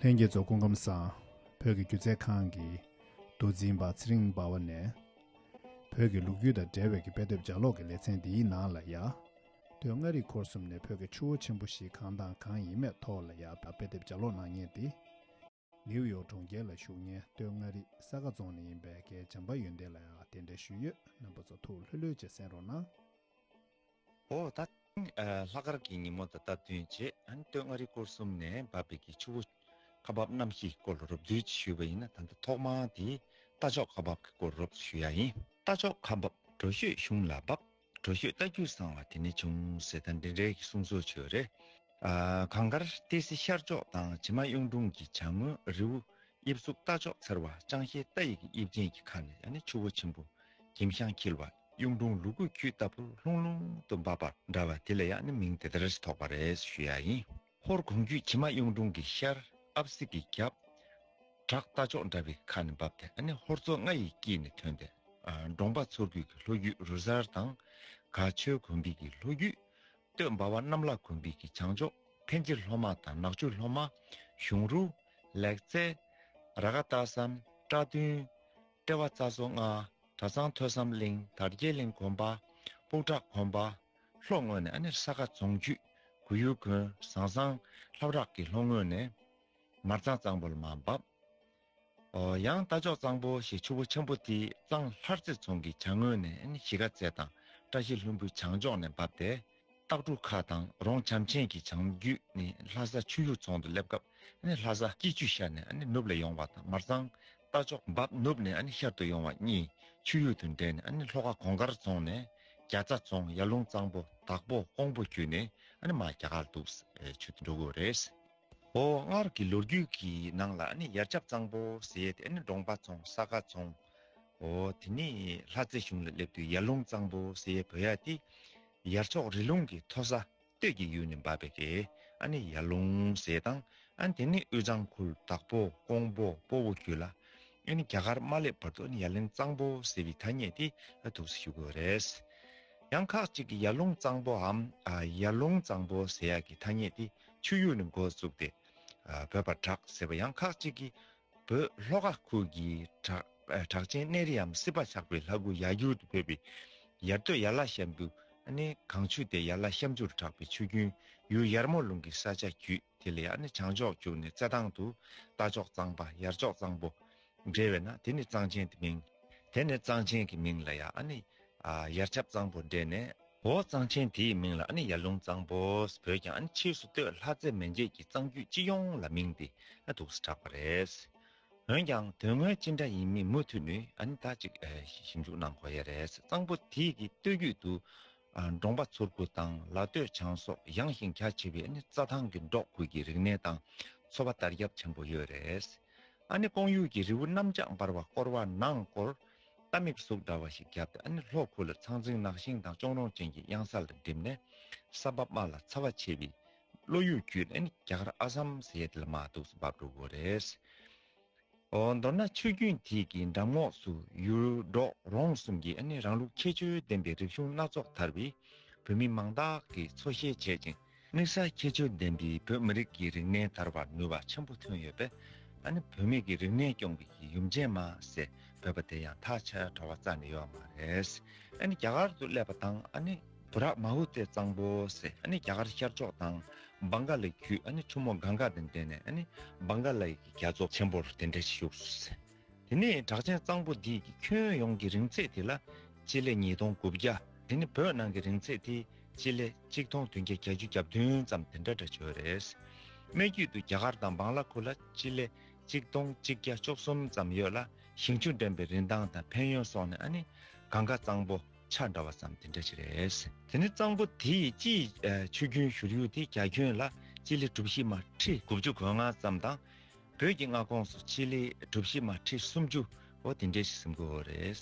ལྷན་རྒྱས་ཚོགས་སྐུ་ཁམས་བཟང། བོད་ཀྱི་སྒྱུ་རྩལ་ཁང་གི། མདོ་འཛིན་པ་ཚེ་རིང་སྦ་བ་ནས། བོད་ཀྱི་ལུག་རྒྱུད་དང་འབྲེལ་བའི་ཀྱི་དཔེ་དེབ་ལྗགས་ཀློག་གི་ལེ་ཚན་འདིའི་ནང་ལ་ཡ། དོན་ལྔ་རིག་འཁོར་གསུམ་ནས་བོད་ཀྱི་ཆུ་བོ་ཆེན་པོ་བཞི་གང་དང་གང་ཡིན་མེད་ཐོག་ལ་ཡ་དཔེ་དེབ་ལྗགས་ཀློག་གནང་ཉེ་སྟེ། ནེའུ་ཡོག་གྲོང་ཁྱེར་ལ་བཞུགས་ཉེན་སྟོད་མངའ་རིས་ས་དགའ་རྫོང་ནས་ཡིན་པའི་མཁན་བྱམས་པ་ཡོན་ཏན་ལ་ཡང་དེ་འདྲའི་ཞུས་ཡོད་རྣམ་པ་ཚོ་ཐུགས་ལྷོད་ལྷོད་ཀྱིས་གསན་རོགས་གནང། ཨོ་ད་ཐེངས་ལྷག་དཀར་གྱི་ཉིན་མོ་དང་སྟབས་བསྟུན་རྗེས་སྟོད་མངའ་རིས་སྐོར་གསུམ་ནས་འབབ་པའི་གི་ཆུ་བོ། ཁ་འབབ་གནམ་གཤིས་སྐོར་ལ་རོབ་བསྡུས་ཀྱིས་ཞུས་པ་ཡིན་ན་ད་ལྟ་ཐོག་མར་དེ་རྟ་མཆོག་ཁ་འབབ་ཀྱི་སྐོར་རོབ་ཏུ་ཞུ་ཡ་ཡིན། རྟ་མཆོག་ཁ་འབབ་གྲོ་ཤོད་གཞུང་ལ་འབབ། གྲོ་ཞོས་རྟ་རྒྱུགས་བཟང་བ་དེ་ནི་ཅུང་ཟད་ཐ་འདྲེ་འདྲེ་གི་གསུང་ཚོགས་ཆོས་རེད། གངས་དཀར་ཏི་སེ་ཤར་ཕྱོགས་དང་བྱེ་མ་གཡུང་དྲུང་གི་བྱང་ངོས་རེའུ་དབྱིབས་གཟུགས་རྟ་མཆོག་མཚར་བ་ཅང་ཤེས་རྟ་ཡི་གི་དབྱིབས་ཅན་གྱི་ཁ་ནས་ནི་ཆུ་བོ་ཆེན་པོ་གྱིམ་ཤང་འཁྱིལ་བ་གཡུང་དྲུང་ལུ་གུ་ཁྱུད་ལྟ་བུ་ལྷུང་ལྷུང་དུ་འབབ་པ་འདྲ་བ་དེ་ལ་ཡང་ནི་མིང་དེ་ལྟར་ཐོགས་པ་རེད་ཞུ་ཡ་ཡིན། ཧོར་གོང་རྒྱུད་ཁྱི་མ་གཡུང་དྲུང་གི་ཤར་ཨབ་གསེར་གྱི་རྒྱབ། བྲག་རྟ་མཆོག་འདྲ་བའི་ཁ་ནས་འབབ་སྟེ་ཧོར་མཚོ་རྔ་ཡི་དཀྱིལ་ནས་ཐོན་ཏེ། འབྲོང་པ་མཚོ་རྒྱུད་ཀྱི་ལྷོ་རྒྱུད་རུ་གཟར་དང། ག་ཆོལ་གོང་འབིགས་ཀྱི་ལྷོ་རྒྱུད། སྟོད་འབའ་བ་གནམ་ལག་གོང་འབིགས་ཀྱི་བྱང་ཕྱོགས་འཕན་ཆེ་ལྷོ་མ་དང་ནག་ཆུ་ལྷོ་མ། གཞུང་རུ། ལེགས་རྩེ། ར་ག་སྟག་ཟམ། བཀྲ་མདུན། ཏྲེ་བ་རྩ་བཟོ་རྔ། གྲ་ཚང་ཐོས་བསམ་གླིང་དར་རྒྱས་གླིང་གོང་འབའ། སྤུག་བྲག་གོང་འབའ། ལྷོ་ངོས་ནས་ཨ་ནེར་ས་ག་རྫོང་ཆུས་གུ་ཡུ་དགོན་ཟང་ཟང་ལྷབ་རག་གི་ལྷོ་ངོས་ནས། མར་གཙང་གཙང་པོ་ལ་མ་འབབ། ཨོ། ཡང་རྟ་མཆོག་གཙང་པོ་ཞེས་ཆུ་བོ་ཆེན་པོ་དེ་གཙང་ལྷར་རྩེ་རྫོང་གི་བྱང་ངོས་ནས་ཨ་ནེ་གཞིས་ཀ་རྩེ་དང་བཀྲ་ཤིས་ལྷུན་པོའི་བྱང་ཕྱོགས་ནས་འབབ་སྟེ། སྟག་གྲུ་ཁ་དང་རོང་བྱམས་ཆེན་གྱི་བྱང་རྒྱུད་ནས་ལྷ་ས་ཆུ་ཡུར་རྫོང་དུ་སླེབས་སྐབས་ཨ་ནེ་ལྷ་ས་སྐྱིད་ཆུ་ཤར་ནས་ཨ་ནེ་ནུབ་ལ་ཡོང་བ་དང་མར་གཙང་རྟ་མཆོག་འབབ་ནུབ་ནས་ཤར་དུ་ཡོང་བ་གཉིས་ཆུ་ཡུར་དུ་འདྲེས་ནས་ལྷོ་ཁ་གོང་དཀར་རྫོང་ནས་རྒྱ་ཚ་རྫོང་ཡར་ལུང་གཙང་པོ་དྭགས་པོ་ཀོང་པོ་བརྒྱུད་ནས་མ་རྒྱ་གར་དུ་ཆུ་འགྲོ་དགོས་རེད། ཨོ་སྔར་གྱི་ལོ་རྒྱུས་ཀྱི་ནང་ལ་ཡར་ཆབ་གཙང་པོ་ཟེར་ཏེ་འབྲོང་པ་རྫོང་ས་དགའ་རྫོང། ཨོ་དེ་ནས་ལྷ་རྩེ་གཞུང་ལ་སླེབས་དུས་ཡར་ལུང་གཙང་པོ་ཟེར་བོད་ཡ་དེ་ཡར་ཕྱོགས་རི་ལུང་གི་མཐོ་ས་སྟོད་ཀྱི་ཡུལ་ནས་འབབ་པའི་རེ་ཨ་ནི་ཡར་ལུང་ཟེར་དང། ཨ་དེ་ནི་དབུས་གཙང་ཁུལ་དྭགས་པོ་ཀོང་པོ་སྤོ་བོ་ཁྱུ་ལ། ཨ་ནི་རྒྱ་གར་མ་སླེབས་བར་དུ་ཨ་ནི་ཡར་ལུང་གཙང་པོ་ཟེར་བའི་ཐ་སྙད་དེ་ཐུགས་སུ་ཞུགས་དགོས་རེད། ཡང་ཁག་གཅིག་གིས་ཡར་ལུང་གཙང་པོའམ་ཡར་ལུང་གཙང་པོ་ཟེར་ཡག་གི་ཐ་སྙད་དེ་ཆུ་ཡུར་ནས་འགོ་བཙུགས་ཏེ། བོད་པར་གྲགས་ཟེར་བ་ཡང་ཁག་གཅིག་གིས། བོད་ལྷོ་ཁ་ཁུལ་གྱི་གྲགས་ཅན་གནས་རིའམ་སྲིད་པ་ཆགས་པའི་ལྷ་དགུ་ཡར་འགྱུར་དུ་འཕོས་པས། ཡར་སྟོད་ཡར་བླ་ཤམ་བུ། གངས་ཆུ་དེ་ཡར་བླ་ཤམ་ཆུ་རུ་གྲགས་པའི་ཆུ་རྒྱུན་ཡུལ་ཡར་མོ་ལུང་གི་ས་ཆ་བརྒྱུད་དེ་ལ་ཡར་བྱང་ཕྱོགས་བརྒྱུགས་ནས་རྩེ་ཐང་དུ་རྟ་མཆོག་གཙང་པ་ཡར་མཆོག་གཙང་པོ། འབྲེལ་བས་ན་དེ་ནི་གཙང་ཆེན་དུ་མིང། དེ་ནས་གཙང་ཆེན་གྱི་མིང་ལ་ཡར་ཆབ་གཙང་པོ་འབྲེལ་ནས། འོ་གཙང་ཆེན་དེའི་མིང་ལ་ནི་ཡར་ལུང་གཙང་པོས་བོས་ཀྱང་ཕྱིས་སུ་སྟོད་ལྷ་རྩེ་མན་ཆད་ཀྱི་གཙང་རྒྱུད་སྤྱི་ཡོངས་ལ་མིང་འདི་དུགས་སུ་གྲགས་པ་རེད། འོན་ཀྱང་དོན་དངོས་ཅི་འདྲ་ཡིན་མིན་མུ་མཐུད་ནས་ད་ཅིག་ཞིབ་འཇུག་གནང་དགོས་ཡས་རེད་གཙང་པོ་དེའི་གི་སྟོད་རྒྱུད་དུ་འབྲོང་པ་ཚུར་ཁུ་དང་ལ་སྟོད་ཆང་སོགས་ཡངས་ཤིང་གྱ་ཆེ་བའི་རྩྭ་ཐང་གི་འབྲོག་ཁུལ་གྱི་རིག་གནས་དང་འཚོ་བ་དར་ཁྱབ་ཆེན་པོ་ཡོད་རེད། ཀོང་ཡུལ་གྱི་རི་བོ་གནམ་ལྕགས་འབར་བ་བསྐོར་བ་ནང་སྐོར་རྟ་མིག་གཟུགས་འདྲ་བ་ཞིག་བརྒྱབ་སྟེ་ཨ་ནི་ལྷོ་ཁུག་ལ་ཚང་ཚིང་ནགས་ཤིང་དང་གཅོང་རོང་ཅན་གྱི་གཡང་ས་ལ་འགྲིམས་ནས་ས་བབ་དམའ་ལ་ཚ་བ་ཆེ་བའི་བློ་ཡུལ་བརྒྱུད་ནས་ཨ་ནི་རྒྱ་གར་ཨ་སམ་ཟས་དེ་ལ་མ་གཏུགས་སུ་འབབ་འགྲོ་དགོས་རེད། ཨོ། མདོར་ན་ཆུ་རྒྱུན་དེ་གའི་འགྲམ་ངོགས་སུ་ཡུལ་འབྲོག་རོང་གསུམ་གྱིས་ཨ་ནི་རང་ལུགས་ཁྱད་ཆོས་ལྡན་པའི་རིག་གཞུང་སྣ་ཚོགས་དར་བས་བོད་མི་མང་དག་གིས་འཚོ་གཞེས་བྱེད་ཅིང། དམིགས་བསལ་ཁྱད་ཆོས་ལྡན་པའི་བོད་མི་རིགས་ཀྱི་རིག་གནས་དར་བར་ནུས་པ་ཆེན་པོ་ཐོན་ཡོད་པས། ད་ནི་བུད་མེད་ཀྱི་རིག་གནས་སྐྱོང་གི་གི་ཡུམ་ཆེན་མ་ཟེར་བོད་པ་དེ་ཡང་ཐག་ཆ་དྲ་བ་རྩ་ནས་ཡོད་མ་རེད། ཨ་ནི་རྒྱ་གར་དུ་སླེབས་པ་དང་ཨ་ནི། བུ་རག་མ་བུ་སྟེ་གཙང་པོ་ཟེར་ཨ་ནི་རྒྱ་གར་ཤར་ཕྱོགས་དང། སྦང་ག་ལའི་བརྒྱུད་ཨ་ནི་ཁྲོ་མོ་གངྒཱ་དང་འདྲེས་ནས་ཨ་ནི། སྦང་ག་ལའི་གི་རྒྱ་མཚོ་ཆེན་པོར་དེ་འདྲ་ཞིག་བཞུགས་སོ་ཟེར། དེ་ནས་གྲགས་ཅན་གཙང་པོ་འདི་ཁྱོན་ཡོངས་ཀྱི་རིང་ཚད་དེ་ལ་སྤྱི་ལེ་ཉིས་སྟོང་དགུ་བརྒྱ་དེ་ནི་བོད་ནང་གི་རིང་ཚད་དེ་སྤྱི་ལེ་གཅིག་སྟོང་བདུན་བརྒྱ་གྱ་བཅུ་གྱ་བདུན་ཙམ་དེ་འདྲ་འདྲ་བྱོས་རེད། སྨད་རྒྱུད་དུ་རྒྱ་གར་དང་བང་ལ་ཁུ་ལ་སྤྱི་ལེ་གཅིག་སྟོང་གཅིག་བརྒྱ་བཅོ་གསུམ་ཙམ་ཡོད་ལ་ཞིང་ཆུ་འདྲེན་པའི་རིན་ཐང་དང་ཕན་ཡོན་སོགས་ནི་ཨ་ནི་གང་ག་གཙང་པོ་ཆ་འདྲ་བ་ཙམ་དེ་འདྲ་ཅིག་རེད། དེ་ནི་གཙང་པོ་དེའི་སྤྱིའི་ཆུ་རྒྱུན་བཞུར་ཡུལ་དེ་རྒྱ་ཁྱོན་ལ་སྤྱི་ལེ་གྲུ་བཞི་མ་ཁྲི་དགུ་བཅུ་གོ་ལྔ་ཙམ་དང། བོད་ཀྱི་མངའ་ཁོངས་སུ་སྤྱི་ལེ་གྲུ་བཞི་མ་ཁྲི་སུམ་ཅུ་འོ་དེ་འདྲའི་ཞིག་སིམ་དགོས་འོ་རེད།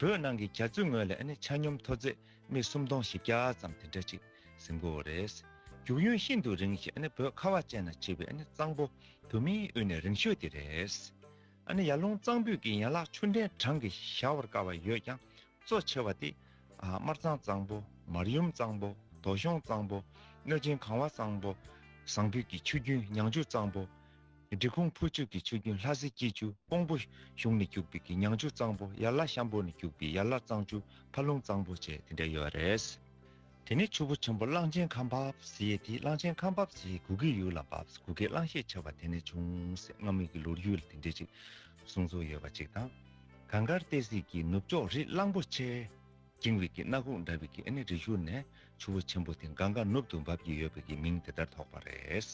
བོད་ནང་གི་གྱ་ཚུལ་ངོས་ལས་ནི་ཆ་སྙོམས་མཐོ་ཚད་སྨི་གསུམ་སྟོང་བཞི་བརྒྱ་ཙམ་དེ་འདྲ་ཅིག་སིམ་དགོས་འོ་རེད། རྒྱུག་ཡུན་ཤིན་ཏུ་རིང་ཞིང་བོད་ཁ་བ་ཅན་ན་བྱིས་པའི་གཙང་པོ་དུ་མིའི་དབུས་ནས་རིང་ཤོས་དེ་རེད། ཡར་ཀླུང་གཙང་སྤུས་ཀྱི་ཡན་ལག་ཆུ་འདྲེན་གྲངས་ཀྱི་བཞག་བར་དཀའ་བ་ཡོད་ཀྱང་གཙོ་ཆེ་བ་དེ་དམར་གཙང་གཙང་པོ། མར་ཡུམ་གཙང་པོ། དོ་ཤོང་གཙང་པོ། གནོད་སྦྱིན་གང་བ་གཙང་པོ། ཟངས་བུས་ཀྱི་ཆུ་རྒྱུན་མྱང་ཆུ་གཙང་པོ། འབྲི་ཁུང་ཕུར་ཆུ་ཀྱི་ཆུ་རྒྱུན་ལྷ་སྲི་སྐྱེས་ཆུ་ཀོང་པོ། གཞུང་ནས་སྐྱུགས་པའི་ཀྱི་མྱང་ཆུ་གཙང་པོ། ཡར་ལ་ཤམ་པོ་ནས་སྐྱུགས་པའི་ཡར་ལ་གཙང་ཆུ་ཕ་ལུང་གཙང་པོ་བཅས་དེ་འདྲ་ཡོད་པ་རེད། དེ་ནས་ཆུ་བོ་ཆེན་པོ་གླང་ཆེན་ཁམས་བབས་ཟེ་ཡེ་ཐི་གླང་ཆེན་ཁམས་བབས་ཟེ་ཡེ་གུ་གེའི་ཡུལ་ལ་བབས་གུ་གེ་གླང་ཤས་ཆེ་བ་དེ་ནས་བྱུང་ཟེ་སྔ་མོ་ཡི་ལོར་ཡུལ་དེ་འདྲས་ཅིག་གསུངས་ཚུལ་ཡོད་པ་ཅིག་དང། གངས་དཀར་ཏའི་གཟིགས་ཀྱི་ནུབ་ཕྱོགས་རི་གླང་པོ་ཆེ། འགྱིང་བིག་གི་སྣ་ཁུང་འདྲ་བིག་གི་ཨེ་ནི་རི་བཞུར་ནས་ཆུ་བོ་ཆེན་པོ་དེ་གངས་དཀར་ནུབ་ཏུ་འབབ་ཀྱི་ཡོད་པ་གི་མིང་དེ་ལྟར་ཐོགས་པ་རེད།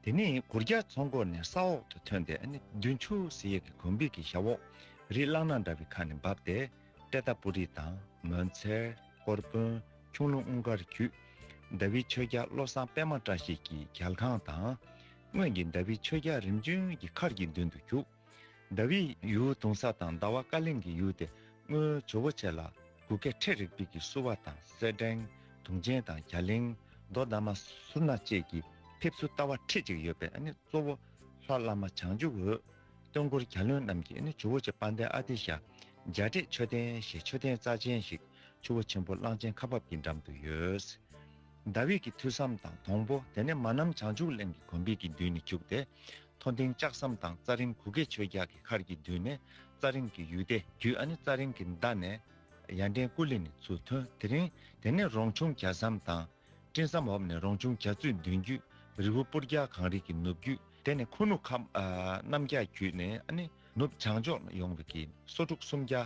དེ་ནི་གུར་རྒྱ་མཚོ་མགོ་ནས་ས་འོག་ཏུ་ཐོན་ཏེ་ཨེ་ནི་བདུན་ཆུ་ཟི་ཡས་ཀྱི་གོང་བིག་གི་ཞབས་འོག་རི་གླང་སྣ་འདྲ་བིག་ཁ་ནས་འབབ་སྟེ། ཏྲེ་ཏཱ་པུ་རི་དང་མོན་ཚལ། ཀོར་དཔོན། ཁྱུང་ལུང་དབུང་དཀར་བརྒྱུད། མདའ་བིས་ཆོས་རྒྱལ་བློ་བཟང་པདྨ་བཀྲ་ཤིས་ཀྱི་གྱལ་ཁང་དང། སྔོན་གྱི་མདའ་བིས་ཆོས་རྒྱལ་རིམ་བྱོན་གྱི་མཁར་གྱི་མདུན་དུ་བརྒྱུགས། ཟླ་བའི་ཡུལ་དུང་ས་དང་ཟླ་བ་བཀའ་གླིང་གི་ཡུལ་ཏེ་སྔོན་ཇོ་བོ་ཆེ་ལ་གུ་སྐལ་ཁྲི་རིག་པིག་གི་བསུ་བ་དང་གསེར་སྦྲེང་དུང་ཅན་དང་གྱ་ལིང་རྡོ་བདག་མ་སུ་ན་བཅས་ཀྱི་ཕེབས་བསུ་རྟ་བ་ཁྲི་གཅིག་ཡོད་པས་གཙོ་བོ་ལྷ་བླ་མ་བྱང་ཆུབ་འོད་སྟོན་འཁོར་གྱ་ལོན་རྣམས་ཀྱིས་ཇོ་བོ་ཆེ་དཔལ་ལྡན་ཨ་ཏི་ཤ་འཇའ་འབྲས་མཆོད་རྟེན་ཞེས་མཆོད་རྟེན་རྩ་ཆེན་ཞིག་ཆུ་བོ་ཆེན་པོ་གླང་ཆེན་ཁ་འབབ་ཀྱི་འགྲམ་དུ་ཡོད། ཟླ་བྷེ་ཀྱི་ཐུགས་བསམ་དང་དོང་པོ་དེ་ནས་མ་ནམ་བྱང་ཆུབ་གླིང་གི་གོམ་པིག་གི་མདུན་ནས་འཁྱུགས་ཏེ་མཐོ་ལྡིང་ལྕགས་ཟམ་དང་རྩ་རིམ་གུ་གེ་ཆོས་རྒྱགས་ཀྱི་ཁར་གྱི་མདུན་ནས་རྩ་རིམ་གྱི་ཡུལ་སྡེ་བརྒྱུད་ཨ་ནི་རྩ་རིམ་གྱི་མདའ་ནས་ཡར་འདྲེན་སྐུ་ལི་ནི་ཚུར་ཐོན་དེ་རིང་དེ་ནས་རོང་ཆུང་གྱ་ཟམ་དང། སྤྲིན་ཟམ་འོབས་ནས་རོང་ཆུང་གྱ་ཚུད་མདུན་བརྒྱུད་རི་བོ་སྤུར་རྒྱགས་གངས་རི་གྱི་ནུབ་བརྒྱུད། དེ་ནས་ཁུ་ནུ་ཁམས་གནམ་རྒྱགས་བརྒྱུད་ནས་ཨ་ནི་ནུབ་བྱང་ཕྱོགས་ནས་ཡོང་བའི་གྱི་སོ་དྲུག་སུམ་བརྒྱ།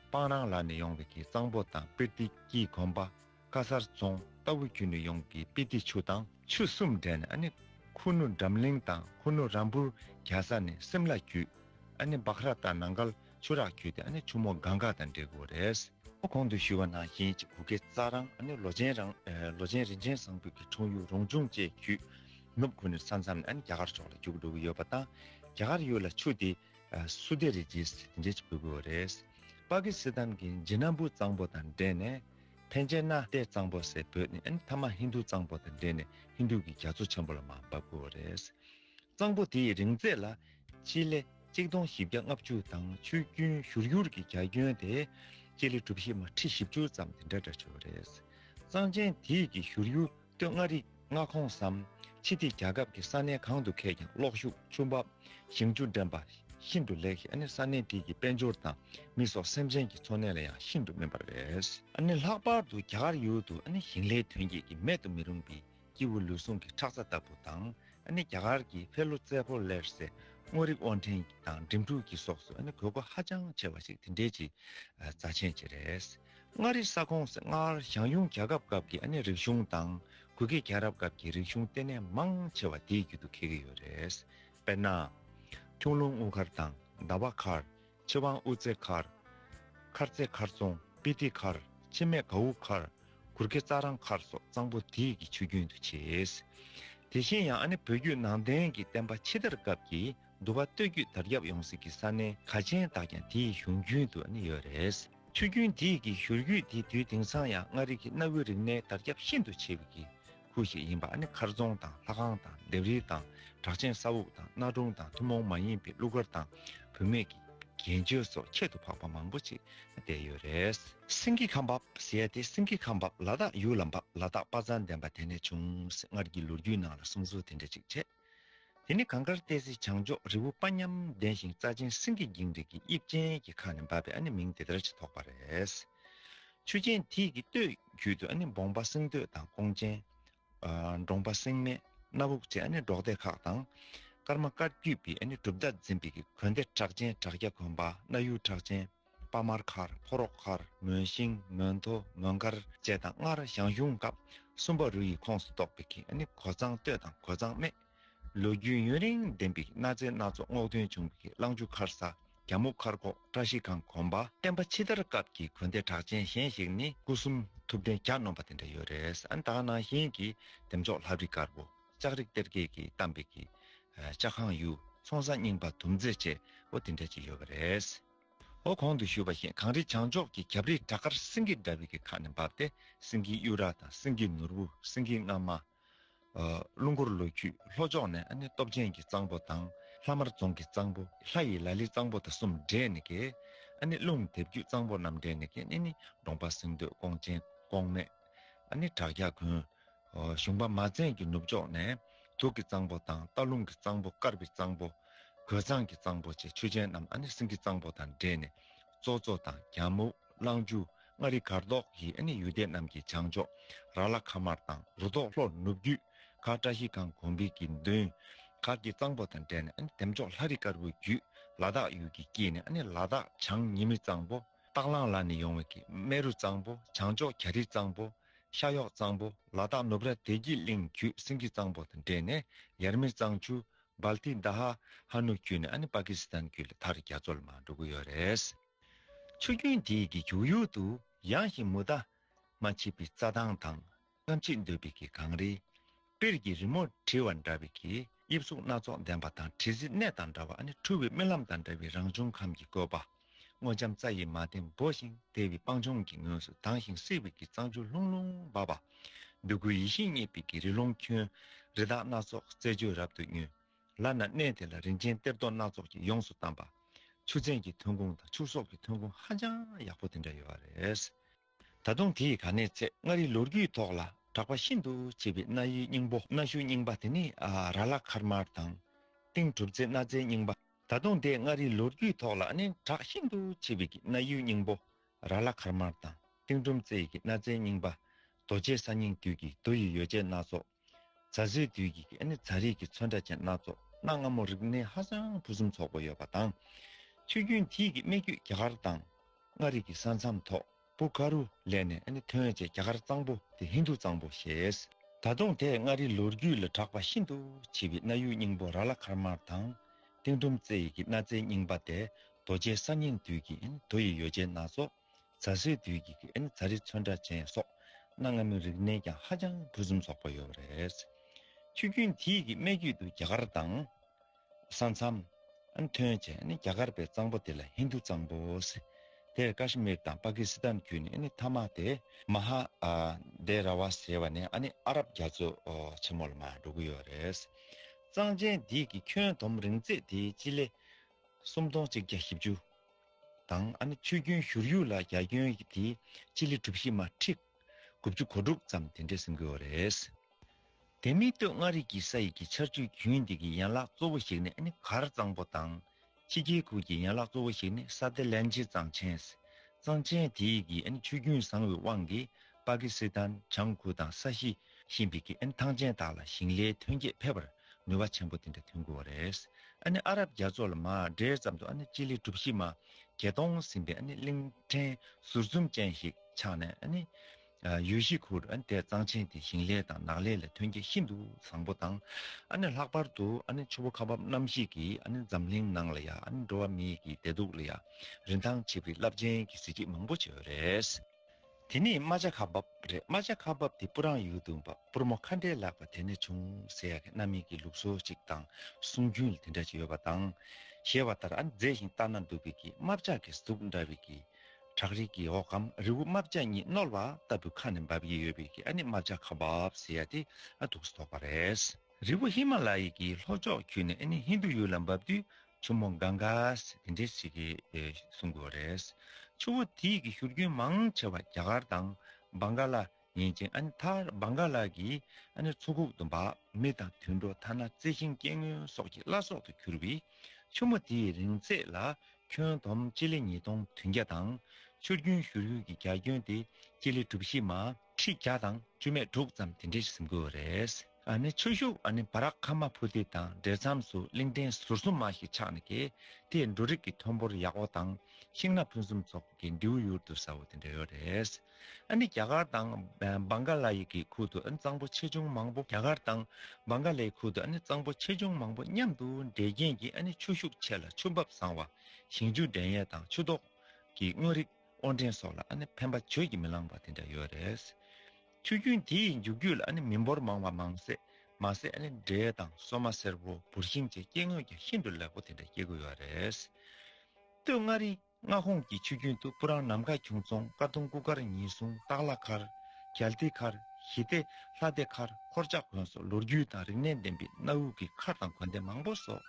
སྤང་རང་ལ་ནས་ཡོང་བའི་གྱི་གཙང་པོ་དང་པིར་ཏི་ཀྱིས་གོམས་པ། དཀར་གསར་རྫོང་རྟ་བོ་རྒྱུད་ནས་ཡོངས་ཀྱི་དཔེ་སྡེ་ཆུ་དང། ཆུ་གསུམ་འདྲེས་ནས་ཨ་ནི་ཁུ་ནུ་འགྲམ་གླིང་དང་ཁུ་ནུ་རམ་བུར་གྱ་ས་ནི་སིམ་ལ་རྒྱུད། ཨ་ནི་སྦག་ར་དང་ནང་མཁར་ཆུ་རགས་རྒྱུད་དེ་ཨ་ནི་ཆུ་མོ་གངས་འགག་དང་འདྲེས་དགོས་རེད། ཁོ་གོང་དུ་ཞུས་པ་ནང་བཞིན་གྱི་བུ་གའི་རྩ་རང་ཨ་ནི་ལོ་ཆེན་རང་ལོ་ཆེན་རིན་ཆེན་བཟང་ཕུད་ཀྱི་འཁྲུངས་ཡུལ་རོང་ཆུང་བཅས་རྒྱུད། ནུབ་ཁུ་ནུ་ས་མཚམས་ནས་ཨ་ནི་རྒྱ་གར་ཕྱོགས་ལ་རྒྱུག་འགྲོ་གི་ཡོད་པ་དང། རྒྱ་གར་ཡུལ་ལ་ཆུ་དེ་སུ་སྡེ་རེད་ཅེས་དེ་འདྲས་ཀྱི་བུད་དགོས་རེད། པ་ཀི་སི་ཐན་གྱི་འཇི་ནམ་བུ་གཙང་པོ་དང་འདྲེས་ནས། ཕན་ཆད་ན་ཏེ་གཙང་པོ་སེ་བོད་ནི་ཨན་ཐ་མ་ཧིན་དུ་གཙང་པོ་དང་འབྲེལ་ནས་ཧིན་དུ་གི་རྒྱ་མཚོ་ཆེན་པོ་ལ་མ་འབབ་དགོས་བ་རེད། གཙང་པོ་དེའི་རིང་ཚད་ལ། སྤྱི་ལེ་གཅིག་སྟོང་བཞི་བརྒྱ་ལྔ་བཅུ་དང་ཆུ་རྒྱུན་བཞུར་ཡུར་གྱི་རྒྱ་ཁྱོན་དེ། སྤྱི་ལེ་གྲུ་བཞི་མ་ཁྲི་བཞི་བཅུ་ཙམ་དེ་འདྲ་འདྲ་བྱེད་བ་རེད། གཙང་ཆེན་དེའི་གི་བཞུར་ཡུར། སྟོད་མངའ་རིས་མངའ་ཁོངས་སམ། ཕྱི་སྡེ་རྒྱལ་ཁབ་ཀྱི་ས་གནས་གང་དུ་མཁས་ཀྱང་གློག་ཤུགས་ཆུ་འབབ་ཞིང་ཆུ་འདྲེན་པ་ཤིན་ཏུ་ལེགས་ཤིང་ས་གནས་དེ་གའི་དཔལ་འབྱོར་དང་མི་སོགས་སེམས་ཅན་གྱི་འཚོ་གནས་ལ་ཡང་ཤིན་ཏུ་སྨན་པར་འོས། ལྷག་པར་དུ་རྒྱ་གར་ཡུལ་དུ་ཞིང་ལས་ཐོན་སྐྱེད་ཀྱིས་མེད་དུ་མི་རུང་བའི་སྐྱེས་བུ་ལུས་ཟུངས་ཀྱི་ཁྲག་རྩ་ལྟ་བུ་དང། རྒྱ་གར་གྱི་བྷེ་ལོ་རྩེ་ཕོ་ལེར་སེ་སྔོ་རིགས་དབོར་འདྲེན་དང་འགྲིམ་འགྲུལ་གྱི་སོགས་སུ་དགོས་མཁོ་ཧ་ཅང་ཆེ་བ་ཞིག་དེ་འབྲེལ་གྱི་རྩ་ཆེན་བཅས་རེད། མངའ་རིས་ས་ཁོངས་སྔར་ཞང་ཞུང་རྒྱལ་ཁབ་སྐབས་ཀྱི་ཨ་ནེ་རིག་གཞུང་དང་གུ་གེ་རྒྱལ་རབས་སྐབས་ཀྱི་རིག་གཞུང་ལྟེ་གནས་མང་ཆེ་བ་དེའི་རྒྱུད་དུ་འཁེལ་གྱི་ཡོད་རེད། དཔེར་ན། ཁྱུང་ལུང་དབུ་མཁར་དང་ཟླ་བ་མཁར། ཆི་ཝང་དབུ་རྩེ་མཁར། མཁར་རྩེ་མཁར་རྫོང་སྤི་ཏི་མཁར། འཆི་མེད་གའུ་མཁར། གུར་གེ་རྩྭ་རང་མཁར་སོགས་གཙང་པོ་དེའི་གི་ཆུ་རྒྱུན་དུ་བྱེད། དེ་བཞིན་ཡང་ཨ་ནེ་བོད་བརྒྱུད་ནང་བསྟན་གྱི་བསྟན་པ་ཕྱི་དར་སྐབས་ཀྱི་འདུ་བ་སྟོད་རྒྱུད་དར་ཁྱབ་ཡོང་སྲིད་ཀྱི་ས་གནས་ག་ཅན་དག་ཀྱང་དེའི་གཞུང་རྒྱུན་དུ་ནི་ཡོད་རེད། ཆུ་རྒྱུན་དེ་ཡི་གི་བཞུར་རྒྱུད་དེ་དུས་དེང་སང་ཡང་མངའ་རིས་ཀྱི་གནའ་བོའི་རིག་གནས་དར་ཁྱབ་ཤིན་ཏུ་ཆེ་བའི་གི་ཁུལ་ཞིག་ཡིན་པ་ནི་མཁར་རྫོང་དང་ལྷ་ཁང་དང་ལྡེབས་རིས་དང་གྲགས་ཆེན་ས་འུག་དང་གནའ་སྒྲུང་དང་ཐུན་མོང་མ་ཡིན་པའི་གླུ་གར་དང་བུད་མེད་ཀྱི་རྒྱན་གཅོད་སོགས་ཁྱད་དུ་འཕགས་པ་མང་པོ་ཅིག་བསྡད་ཡོད་རེད། སེང་གེ་ཁ་འབབ་ཟེར་ཏེ་སེང་གེ་ཁ་འབབ་ལ་དག་ཡུལ་ལ་འབབ་ལ་དག་དཔའ་མཛངས་ལྡན་པ་དེ་ནས་བྱུང་ཟེར་སྔར་གྱི་ལོ་རྒྱུས་ནང་ལ་གསུང་ཟུར་དེ་འདྲ་ཅིག་བྱས། དེ་ནི་གངས་དཀར་ཏའི་གཟི་བྱང་མཆོག་རི་བོ་དཔའ་ཉམས་ལྡན་ཞིང་རྩ་ཆེན་སེང་གེ་འགྱིང་རིགས་ཀྱི་དབྱིབས་ཅན་གྱི་ཁ་ནས་འབབ་པས་ཨ་ནི་མིང་དེ་ལྟར་ཅིག་ཐོགས་པ་རེད། ཆུ་ཆེན་དྷིས་ཀྱི་སྟོད་རྒྱུད་དུ་ཨ་ནི་འབོང་པ་སེང་སྟོད་དང་ཀོང་ཆེན། འབྲོང་པ་སེང་མེ་སྣ་བུག་བཅས་ཨ་ནི་འབྲོག་སྡེ་ཁག་དང། སྐར་མ་སྐར་རྒྱུད་པའི་ཨ་ནི་གྲུབ་མཐའ་འཛིན་པའི་གོན་སྡེ་གྲགས་ཅན་བྲག་སྐྱ་གོན་པ་སྣ་ཡུལ་གྲགས་ཅན། དཔའ་དམར་མཁར་ཕོ་རོག་མཁར་མོན་ཤིང་མོན་མཐོ་མོན་མཁར་བཅས་དང་སྔར་ཞང་ཞུང་སྐབས་གསུམ་པ་རུ་ཡི་ཁོངས་སུ་གཏོགས་པའི་གི་ནི་གོ་ཚང་སྟོད་དང་གོ་ཚང་སྨད། ལོ་རྒྱུས་ཡུན་རིང་ལྡན་པའི་གནའ་རྫས་སྣ་ཚོགས་སྔོག་འདོན་བྱུང་བའི་གི་གླང་ཆུ་མཁར་ས་གྱ་མུག་མཁར་ཁོག་བཀྲ་ཤིས་ཁང་གོམ་པ། བསྟན་པ་ཕྱི་དར་སྐབས་ཀྱི་དགོན་སྡེ་གྲགས་ཅན་གཞན་ཞིག་ནི་སྐུ་གསུམ་ཐུབ་བསྟན་གྱ་ནོམ་པ་དེ་འདྲ་ཡོད་རེད་ཨ་དང་ནང་བཞིན་གྱི་འདེམས་ཆོག་ལྷབ་རི་དཀར་པོ་ལྕགས་རིགས་གཏེར་རྒྱས་ཀྱིས་གཏམས་པའི་གི། ལྕགས་ཁང་གཡུ་ཚོང་ས་རྙིང་པ་དུམ་རྩེ་བཅས་པོ་དེ་འདྲ་ཅིག་ཡོད་པ་རེད། ཧོ། གོང་དུ་ཞུས་པ་བཞིན་གངས་རི་བྱང་ཕྱོགས་ཀྱི་གབ་རིའི་བྲག་དཀར་སེང་གེ་འདྲ་བའི་གི་ཁ་ནས་འབབ་སྟེ་སེང་གེའི་གཡུ་རག་དང་སེང་གེའི་ནོར་བུ་སེང་གེའི་རྔ་མ། རླུང་འཁོར་ལོ་རྒྱུས་ལྷོ་ཕྱོགས་ནས་ནི་སྟོབས་ཆེན་གྱི་གཙང་པོ་དང་ལྷ་དམར་རྫོང་གི་གཙང་པོ་ལྷ་ཡི་ལ་ལི་གཙང་པོ་དང་གསུམ་འདྲེས་ནས་ཀྱི། རླུང་དེབ་རྒྱུད་གཙང་པོ་རྣམས་འདྲེས་ནས་ཀྱི་ནི་ནི་གདོང་པ་སེང་སྟོད་ཀོང་ཆེན་ཀོང་སྨད། བྲག་བརྒྱ་དགོན། གཞུང་པདྨ་བཙན་གྱི་ནུབ་ཕྱོགས་ནས་དུག་གི་གཙང་པོ་དང་རྟ་རླུང་གི་གཙང་པོ་དཀར་བའི་གཙང་པོ། གོས་གཙང་གི་གཙང་པོ་བཅས་ཆུ་ཆེན་རྣམས་ཨ་ནི་སིང་གི་གཙང་པོ་དང་འདྲེས་ནས་ཙོག་ཙོག་དང་རྒྱ་སྨུག་གླང་ཆུ་མངའ་རིས་གར་ལྡོག་གིས་ཨ་ནི་ཡུལ་སྡེ་རྣམས་ཀྱི་བྱང་ཕྱོགས་ར་ལ་ཁ་མར་དང་རུ་ཐོག་ལྷོར་ནུབ་རྒྱུད་མཁར་བཀྲ་ཤིས་ཁང་གོང་བིས་ཀྱི་མདུན་མཁར་གྱི་གཙང་པོ་དང་འདྲེས་ནས་ཨ་ནི་དེམ་ཕྱོགས་ལྷ་རི་དཀར་པོའི་རྒྱུད་ལ་དྭགས་ཡུལ་གྱི་དཀྱིལ་ནས་ཨ་ནི་ལ་དྭགས་བྱང་ཉི་མི་གཙང་པོ་སྟག་གླང་ལ་ནི་ཡོང་བའི་ཀྱི་རྨེ་རུ་གཙང་པོ་བྱང་ཕྱོགས་གྱ་རིའི་གཙང་པོ་ཤ་གཡོག་གཙང་པོ་ལ་སྟག་ནུབ་ར་བདེ་སྐྱིད་གླིང་བརྒྱུད་སེང་ཁྱི་གཙང་པོ་དང་འདྲེས་ནས་ཡར་མི་གཙང་ཆུ། Balti Daha། ཧ་ནུ་བརྒྱུད་ནས་ཨ་ནི་པ་ཀི་སི་ཐན་བརྒྱུད་ལ་ཐར་རྒྱ་མཚོ་ལ་མར་འགྲོ་གི་ཡོད་རེད། ཆུ་རྒྱུན་དེའི་གི་བྱུག་ཡུལ་དུ་ཡངས་ཤིང་མུ་མཐའ་མ་མཆིས་པའི་རྩྭ་ཐང་དང་རྔམ་བརྗིད་འདོད་པའི་གི་གངས་རི། པིར་གྱི་རི་མོ་བྲིས་བ་འདྲ་བའི་གིས་དབྱིབས་གཟུགས་སྣ་ཚོགས་ལྡན་པ་དང་བྲིས་གཟི་གནས་དང་འདྲ་བ་ནི་འཁྲུལ་བའི་རྨི་ལམ་དང་འདྲ་བའི་རང་བྱུང་ཁམས་ཀྱི་བཀོད་པ། སྔོ་ལྕམ་རྩྭ་ཡི་མ་སྟེང་སྦོ་ཞིང་དལ་བའི་སྤང་ལྗོངས་ཀྱི་ངོས་སུ་དྭངས་ཤིང་བསིལ་བའི་གིས་གཙང་ཆུ་ལྷུང་ལྷུང་འབབ་པ། འདོད་རྒུའི་ཡིད་བཞིན་རྙེད་པའི་གིས་རི་ཀློང་ཁྱོན། རི་དྭགས་སྣ་ཚོགས་རྩེད་འཇོའི་རབ་ཏུ་མྱོས། ལར་ན་གནས་དེ་ལ་རིན་ཆེན་གཏེར་རྡོ་སྣ་ཚོགས་ཀྱིས་ཡོངས་སུ་གཏམས་པ། ཆུ་ཚན་གྱི་ཐོན་ཁུངས་དང་ཕྱུགས་ཟོག་གི་ཐོན་ཁུངས་ཧ་ཅང་ཡག་པོ་དེ་འདྲ་ཡོད་པ་རེད། ད་དུང་དེ་ཡི་ག་ནས་ཚེ་མངའ་རིས་ལོ་རྒྱུས་ཐོག་ལ་གྲགས་པ་ཤིན་ཏུ་ཆེ་བའི་གནའ་ཡུལ་རྙིང་པོ་གནའ་ཤུལ་རྙིང་པ་དེ་ནི་ར་ལ་མཁར་དམར་དང། སྟེང་གྲུབ་རྩེ་གནའ་རྫས་རྙིང་པ། ད་དུང་དེ་མངའ་རིས་ལོ་རྒྱུས་ཐོག་ལ་ནི་གྲགས་ཤིན་ཏུ་ཆེ་བའི་གི་གནའ་ཡུལ་རྙིང་པོ་ར་ལ་མཁར་དམར་དང་སྟེང་གྲུམ་རྩེ་ཡི་གི་གནའ་རྫས་རྙིང་པ། རྡོ་རྗེ་ས་སྙིང་དུས་ཀྱི་རྡོ་ཡི་ཡོ་བྱད་སྣ་ཚོགས། རྫ་བཟོའི་དུས་ཀྱི་ཀྱི་ནི་རྫ་རིགས་ཀྱི་ཚོན་ཁྲ་ཅན་སྣ་ཚོགས་གནའ་སྔ་མོ་རིག་གནས་ཧ་ཅང་ཕུན་སུམ་ཚོགས་པོ་ཡོད་པ་དང། ཆུ་རྒྱུན་དེས་ཀྱི་སྨད་རྒྱུད་རྒྱ་གར་དང། མངའ་རིས་ཀྱི་ས་མཚམས་ཐོག་བུ་ག་རུ་ལས་ནས་ནི་ཐོན་བྱས་རྒྱ་གར་གཙང་པོ་དེ་ཧིན་རྡུ་གཙང་པོ་ཞེས། ད་དུང་དེས་མངའ་རིས་ལོ་རྒྱུས་ལ་གྲགས་པ་ཤིན་ཏུ་ཆེ་བའི་གནའ་ཡུལ་རྙིང་པོ་ར་ལ་མཁར་དམར་དང། སྟེང་ཁྲོམ་རྩེ་ཡི་ཀྱི་གནའ་རྫས་རྙིང་པ་སྟེ་རྡོ་རྗེའི་ས་སྙིང་དུས་ཀྱི་ནི་རྡོ་ཡི་ཡོ་བྱད་སྣ་ཚོགས། རྫ་སེར་དུས་ཀྱི་གི་ནི་རྫ་རི་ཚོན་ཁྲ་ཅན་སོགས་གནའ་སྔ་མོའི་རིག་གནས་ཀྱང་ཧ་ཅང་ཕུན་སུམ་ཚོགས་པོ་ཡོད་པ་རེད། ཆུ་རྒྱུན་དེའི་གི་སྨད་རྒྱུད་དུ་རྒྱ་གར་དང། ས་མཚམས། ཐོན་བྱས་ནི་རྒྱ་གར་པའི་གཙང་པོ་དེ་ལ་ཧིན་དྷུ་གཙང་པོ། དེར་ཀ་ཤི་མིར་དང་པ་ཀི་སི་ཐན་རྒྱུད་ནི་མཐའ་མ་སྟེ། མ་ཧ་དེ་ར་བ་ཟེར་བ་ནི་ནི་ཨ་རབ་རྒྱ་མཚོ་ཆེན་མོ་ལ་མ་འགྲོ་གི་ཡོད་རེད། གཙང་ཆེན་དེའི་གི་ཁྱོན་དོམ་རིང་ཚད་དེའི་སྤྱི་ལེ་སུམ་སྟོང་གཅིག་བརྒྱ་བཞི་བཅུ། དང། ཨ་ནི་ཆུ་རྒྱུན་བཞུར་ཡུག་ལ་རྒྱ་ཁྱོན་གྱི་དེ་སྤྱི་ལེ་གྲུབ་བཞི་མ་ཁྲི། དགུ་བཅུ་གོ་དྲུག་ཙམ་དེ་འདྲས་སེམས་དགོས་བ་རེད། དེ་མིན་སྟོད་མངའ་རིས་ཀྱི་ས་ཡིག་གི་ཆར་ཆུ་རྒྱུན་དེ་གི་ཡན་ལག་གཙོ་བོ་ཞིག་ནི་ཨ་ནི་གར་གཙང་པོ་དང། ཕྱི་རྒྱལ་ཁུལ་གྱི་ཡན་ལག་གཙོ་བོ་ཞིག་ནི་ས་ཏེ་ལན་ཇི་གཙང་ཆེན། གཙང་ཆེན་དེ་ཡིག་གི་ཨ་ནི་ཆུ་རྒྱུན་བཟང་བའི་དབང་གིས་པ་ཀི་སི་ཐན་བྱང་ཁུལ་དང་ས་གཞི་ཤིན་པིག་གི་ཨ་ནི་ཐང་ཆེན་དག་ལ་ཞིང་ལས་ཐོན་སྐྱེད་འཕེལ་བར་ནུས་བ་ཆེན་པོ་དེ་འདྲ་ཐོན་དགོས་བ་རེད། ཨ་ནི་ཨ་རབ་རྒྱ་མཚོ་ལ་མ་འདྲེས་ཙམ་དུ་ཨ་ནི་སྤྱི་ལེ་གྲུབ་བཞི་མ་གྱེས་གཏོང་ཟིན་པའི་ཨ་ནི་གླིང་ཕྲན་ཟུར་འཛུམ་ཅན་ཞིག་ཆགས་ནས་ཨ་ནི། ཡུལ་གཞིས་ཁུལ་ཨ་ནི་དེ་གཙང་ཆེན་དེ་ཞིང་ལས་དང་ནགས་ལས་ལ་ཐོན་སྐྱེད་ཤིན་ཏུ་བཟང་པོ་དང། ཨ་ནི་ལྷག་པར་དུ་ཨ་ནི་ཆུ་བོ་ཁ་འབབ་གནམ་གཤིས་ཀྱིས་ཨ་ནི་འཛམ་གླིང་ནང་ལ་ཡང་ཨ་ནི་འགྲོ་བ་མིའི་གི་བདེ་སྡུག་ལ་ཡང་རིན་ཐང་ཆེ་བའི་རླབས་ཆེན་གྱི་གཟི་བརྗིད་མང་པོ་བྱེད་བ་རེད། དེ་ནས་རྨ་བྱ་ཁ་འབབ་རེད་རྨ་བྱ་ཁ་འབབ་དེ་སྤུ་རང་ཡུལ་དུ་འབབ་སྤུར་མོ་ཁ་འདྲེ་ལགས་པ་དེ་ནས་བྱུང་ཟེར་ཡ་གི་གནའ་མི་གི་ལུགས་སྲོལ་ཅིག་དང་གསུང་རྒྱུན་ལ་དེ་འདྲ་ཅིག་ཡོད་པ་དང། ཞེས་བ་ལྟར་ཨ་ནི་མཛེས་ཤིང་ལྟ་ན་སྡུག་བི་གི་རྨ་བྱ་གི་གཟུགས་འདྲ་བི་གི། བྲག་རི་གི་འོག་གམ་རི་བོ་རྨ་བྱ་གཉིས་བསྣོལ་བ་ལྟ་བུའི་ཁ་ནས་འབབ་ཡི་ཡོད་བི་གི་ཨ་ནི་རྨ་བྱ་ཁ་འབབ་ཟེར་ཡ་དེ་ཨ་དུག་སུ་དོགས་པ་རེད། རི་བོ་ཧི་མ་ལ་ཡི་གི་ལྷོ་ཕྱོགས་འཁྱུད་ནས་ཨ་ནི་ཧིན་རྡུ་ཡུལ་ལ་འབབ་དུས་ཆུ་མོ་འགའ་འགའས་དེ་འདྲའི་ཚིག་གིས་གསུང་དགོས་རེད། ཆུ་བོ་དེའི་གི་བཞུར་རྒྱུན་མང་ཆེ་བ་རྒྱ་གར་དང་བང་ག་ལ་ཡིན་ཅིང་ཨ་ནི་མཐར་བང་ག་ལ་གི་ཨ་ནི་མཚོ་ཁུག་ཏུ་འབག་མེ་དང་དུད་འགྲོ་ཐ་ན་རྩི་ཤིང་སྐྱེ་དངོས་སོགས་ཀྱི་བླ་སྲོག་ཏུ་གྱུར་བས་ཆུ་མོ་དེའི་རིང་ཚད་ལ་ཁྱོན་བསྡོམས་སྤྱི་ལེ་ཉིས་སྟོང་དུན་བརྒྱ་དང། ཆུ་རྒྱུན་བཞུར་ཡུལ་གྱི་རྒྱ་ཁྱོན་ཏེ་སྤྱི་ལེ་གྲུ་བཞི་མ། ཁྲི་བརྒྱ་དང་བཅུ་མེད་དྲུག་ཙམ་དེ་འདྲའི་ཟིམ་དགོས་བ་རེད། ནས་ཆུ་ཤུག་ནས་བ་རག་ཁ་མ་ཕུ་ཏི་དང་འབྲེལ་མཚམས་སུ་གླིང་ཕྲན་ཟུར་གསུམ་མ་ཞིག་ཆགས་ནས་ཀྱི་དེ་འབྲུ་རིགས་ཀྱི་ཐོན་འབོར་ཡག་བོ་དང་ཤིང་སྣ་ཕུན་སུམ་ཚོགས་པོ་ཀྱི་མདེའུ་ཡུར་དུ་ཟ་བོ་དེ་འདྲ་ཡོད་རེད། ནས་རྒྱ་གར་དང་བང་ག་ལ་ཡི་གི་ཁུལ་དུ་གཙང་པོ་ཆེ་ཆུང་མང་པོ་རྒྱ་གར་དང་བང་ག་ལའི་ཁུལ་དུ་གཙང་པོ་ཆེ་ཆུང་མང་པོ་མཉམ་དུ་འདྲེས་རྐྱེན་གྱིས་ཆུ་ཤུག་ཆེ་ལ་ཆུ་འབབ་བཟང་བ། ཞིང་ཆུ་འདྲེན་ཡས་དང་ཆུ་དོག་གི་དངོས་རིགས། དབོར་འདྲེན་སོགས་ལ་ནི་ཕན་པ་བརྗོད་ཀྱིས་མི་ལངས་པ་དེ་འདྲ་ཡོད་རེད། ཆུ་རྒྱུན་དེ་ཡི་མཇུག་རྒྱུད་ལ་ནི་མི་འབོར་མང་བ་མང་ཟད་མ་ཟད་ནི་འབྲས་དང་སོ་མ་སེར་བོ་འབུར་ཤིང་བཅས་སྐྱེ་དངོས་ཀྱང་ཤིན་ཏུ་ལེགས་པོ་དེ་འདྲ་སྐྱེ་དགོས་ཡོད་རེད། སྟོད་མངའ་རིས་མངའ་ཁོངས་ཀྱི་ཆུ་རྒྱུན་དུ་སྤུ་རང་ནམ་མཁའ་ཁྱུང་རྫོང་དཀར་གདུང་སྐུ་མཁར་ཉི་གཟུང་སྟག་ལྷ་མཁར། གྱ་ལྡི་མཁར། ཞི་བདེ། ལྷ་བདེ་མཁར་འཁོར་ལྕགས་དགོན་སོགས་ལོ་རྒྱུས་དང་རིག་གནས་ལྡན་པའི་གནའ་དབུས་ཀྱི་མཁར་དང་དགོན་སྡེ་མང་པོ་སོགས་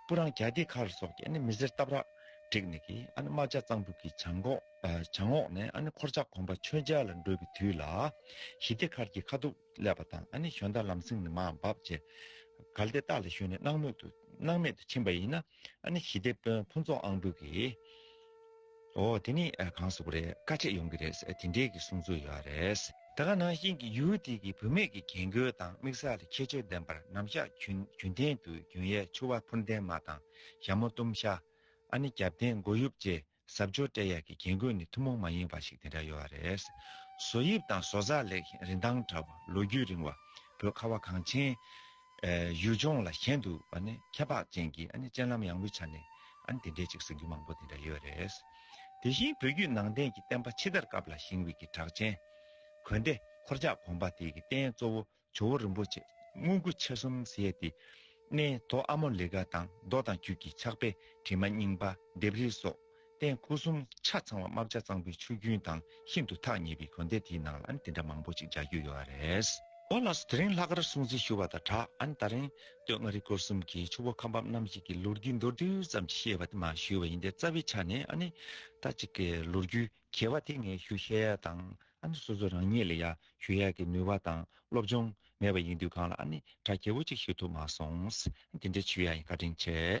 སྤུ་རངས་གྱ་སྟེ་ཁར་སོགས་ཀྱི་མི་སེར་སྟབས་རགས་བསྒྲིགས་ནས་རྨ་བྱ་གཙང་འབུད་ཀྱི་བྱང་ངོགས་ནས་འཁོར་ལྕགས་གོམ་པ་ཆོས་འཇའ་ལ་འགྲོ་བའི་དུས་ལ། ཞི་བདེ་མཁར་གྱི་ཁ་གདུགས་ཀླད་པ་དང་བཞོན་ཟླ་ལམ་སེང་ནི་མ་འབབ་བཅས་གལ་ཏེ་སྟག་ལ་ཞོན་ནས་སྣང་མེད་དུ་ཕྱིན་པ་ཡིན་ན། ཞི་བདེ་དཔོན་ཕུན་ཚོགས་ཨང་དྲུག་གིས། ཨོ་དེ་ནི་གངས་སུ་རེད་དཀའ་ཆེ་ཡོང་གི་རེད་དེ་འདྲས་ཀྱི་གསུང་ཚུལ་ཡོད་རེད། ད་ག་ནང་བཞིན་གྱི་ཡུལ་དེ་གི་བུད་མེད་ཀྱི་རྒྱན་གོས་དང་མིག་གཟར་ལ་ཁྱད་ཆོས་ལྡན་པར་ནམ་ཞག་གྱོན་ཐན་དུ་གྱོན་ཡས་ཆུ་བ་ཕུར་འདན་མ་དང་ཞྭ་མོ་གཏུམ་ཤ། ཨ་ནི་རྒྱབ་རྟེན་མགོ་དབྱུབ་བཅས་གཟབ་མཆོར་སྤྲས་ཡས་ཀྱི་རྒྱན་གོས་ནི་ཐུན་མོང་མ་ཡིན་བ་ཞིག་དེ་འདྲ་ཡོད་རེད། བཟོ་དབྱིབས་དང་བཟོ་རྩལ་ལེགས་ཤིང་རིན་ཐང་བྲལ་བ་ལོ་རྒྱུས་རིང་བ་བོད་ཁ་བ་གངས་ཆེན། ཡུལ་ལྗོངས་ལ་ཞེན་དུ་ཁྱད་འཕགས་ཅན་གྱི་སྤྱན་ལམ་ཡངས་པོའི་ཆ་ནས་དེ་འདྲའི་ཅིག་གསུང་རྒྱུན་མང་པོ་དེ་འདྲ་ཡོད་རེད། དེ་བཞིན་བོད་བརྒྱུད་ནང་བསྟན་གྱི་བསྟན་པ་ཕྱི་དར་སྐབས་ལ་ཞིང་དབུས་ཀྱི་གྲགས་ཅན། གོན་ཏེ་འཁོར་ཇག་གོང་པ་དེ་གི་རྟེན་གཙོ་བོ་ཇོ་བོ་རིན་པོ་ཆེ་དངུལ་སྐུ་ཕྱེད་གསུམ་བཞེས་ཏེ། གནས་མདོ་ཨ་མོ་ལི་ཀ་དང་མདོ་དང་རྒྱུད་ཀྱི་ཕྱག་དཔེ་བྲིས་མ་རྙིང་པ་ལྡེབས་རིས་སོགས་སྟེང་སྐུ་གསུམ་ཆ་ཚང་བ་རྨ་བྱ་གཙང་པོའི་ཆུ་རྒྱུན་དང་ཤིན་ཏུ་ཐག་ཉེ་བའི་གོན་སྡེ་དེའི་ནང་ལ་ཨན་དེ་འདྲ་མང་པོ་ཅིག་འཇགས་རྒྱུ་ཡོད་ར་རེད། ཨོ་ལགས་སུ་དེ་རིང་ལྷ་དཀར་སྲུང་བརྩི་ཞུ་བ་དང་དྲག་ཨན་ད་རིང་སྟོད་མངའ་རིས་སྐོར་གསུམ་གྱི་ཆུ་བོ་ཁ་འབབ་རྣམ་བཞི་གི་ལོ་རྒྱུས་མདོར་བསྡུས་ཙམ་ཅིག་བཤད་པ་དེ་མ་ཞུས་བ་ཡིན་ཏེ་རྩ་བའི་ཆ་ནས་ཨ་ནི་ད་ཅིག་གི་ལོ་རྒྱུས་གྱེས་བ་དེ་ངས་ཞུ་ཤེས་ཡ་དང་ཨ་ནི་སོ་སོ་རང་ཉིད་ལ་ཡ་ཞུ་ཡ་གི་ནུས་བ་དང་སློབ་སྦྱོང་མེད་པ་ཡིན་དུས་གང་ལ་ཨ་ནི་དྲག་གྱེས་བོ་ཅིག་ཞུ་ཐུབ་མ་སོང་ཨ་ནི་དེ་འདྲའི་ཆུ་ཡ་ཡིན་ཁ་བྲིན་ཆེ།